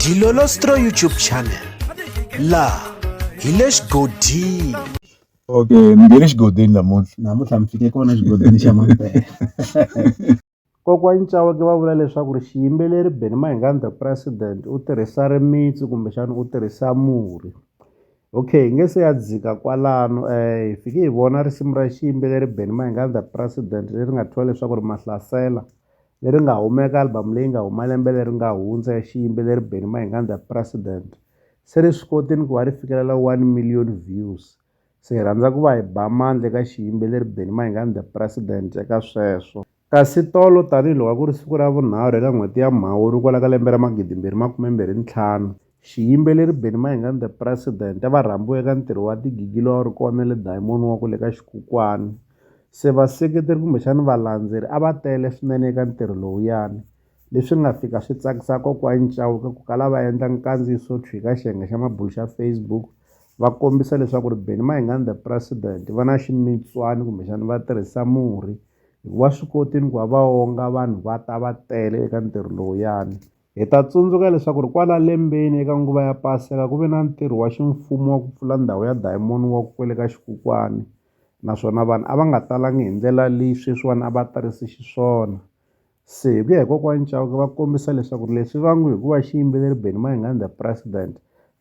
Dilolostro YouTube channel la hi le xigodini okay ni nge le xigodini namuntlha namuntlha mi fike kona xigodini xa mampela kokwani caweke va vula leswaku ri xiyimbeleri beni mahingani the president u tirhisa rimitsu kumbexana u tirhisa murhi okay hi nge se ya dzika kwalano um hi fike hi vona risimu ra xiyimbeleri beni mahingani the president leri nga thyiwa leswaku ri mahlasela leri nga huma eka album leyi nga huma lembe leri nga hundza ya xiyimbeleri Benny Mayengandla President se ri swi koti ni ku va ri fikelela one million views se hi rhandza ku va hi ba mandla eka xiyimbeleri Benny Mayengandla President eka sweswo kasi tolo tanihiloko a ku ri siku ra vunharhu eka n'hweti ya Mhawuri kwala ka lembe ra magidi mbirhi makume mbirhi ntlhanu Xiyimbeleri Benny Mayengani The President va rhambiwe eka ntirho wa tigigi lowu a wu ri kona le Diamond wa ku le ka Xikhukwani se vaseketeri kumbexani valandzeri a va tele swinene eka ntirho lowuyani leswi nga fika swi tsakisa kokwani Chauke ku kala va endla nkandziyiso thwi ka xiyenge xa mabulo xa Facebook va kombisa leswaku ri Benny Mayengani The President va na ximitswani kumbexani va tirhisa murhi hikuva swi kotini ku va va onga vanhu va ta va tele eka ntirho lowuyani. Hi ta tsundzuka leswaku ri kwala lembeni eka nguva ya paseka ku ve na ntirho wa ximfumo wa ku pfula ndhawu ya diamond wa ku kwele ka xikokwani naswona vanhu a va nga talangi hi ndlela leyi sweswiwani a va tarise xiswona se hi ku ya hi kokwani Chauke va kombisa leswaku ri leswi va ngo hikuva xiyimbeleri Benny Mayengani the president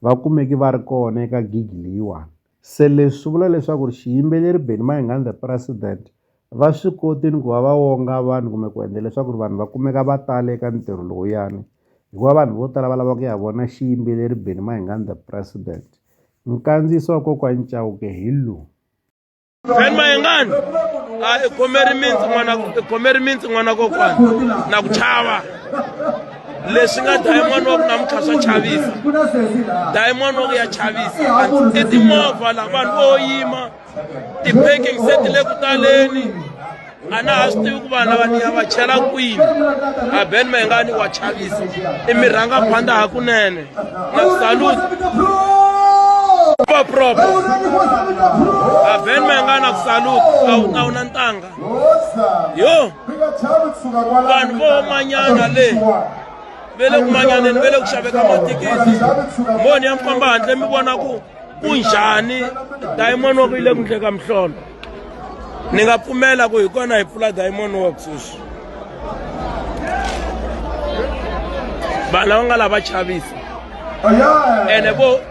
va kumeke va ri kona eka gig leyiwani. Se leswi swi vula leswaku ri xiyimbeleri Benny Mayengani the president va swi koti ni ku va va wonga vanhu kumbe ku endla leswaku ri vanhu va kumeka va tale eka ntirho lowuyani hikuva vanhu vo tala va lava ku ya vona xiyimbeleri Benny Mayengani the president nkandziyiso wa kokwani Chauke hi lowu Benny Mayengani a i khome rimitsi n'wana i khome rimitsi n'wana kokwani na ku chava leswi nga dlaye n'wana wa ku namuntlha swa chavisa dlaye n'wana wa ku ya chavisa i timovha la vanhu vo yima ti-parking se ti le ku taleni a na ha swi tivi ku vanhu lava ni ya va chela kwini a ben mayengani wa chavisa i mi rhanga phanda hakunene na salut proper a ben mayengani a ku salut a wu na wu na ntanga yo vanhu vo manyana le ve le ku manyaneni ve le ku xaveka matikiti moni ya mi famba handle mi vona ku ku njhani diamond work yi le ku ndleka mihlolo ni nga pfumela ku hi kona hi pfula diamond work sweswi vanhu lava nga lava chavisa ene vo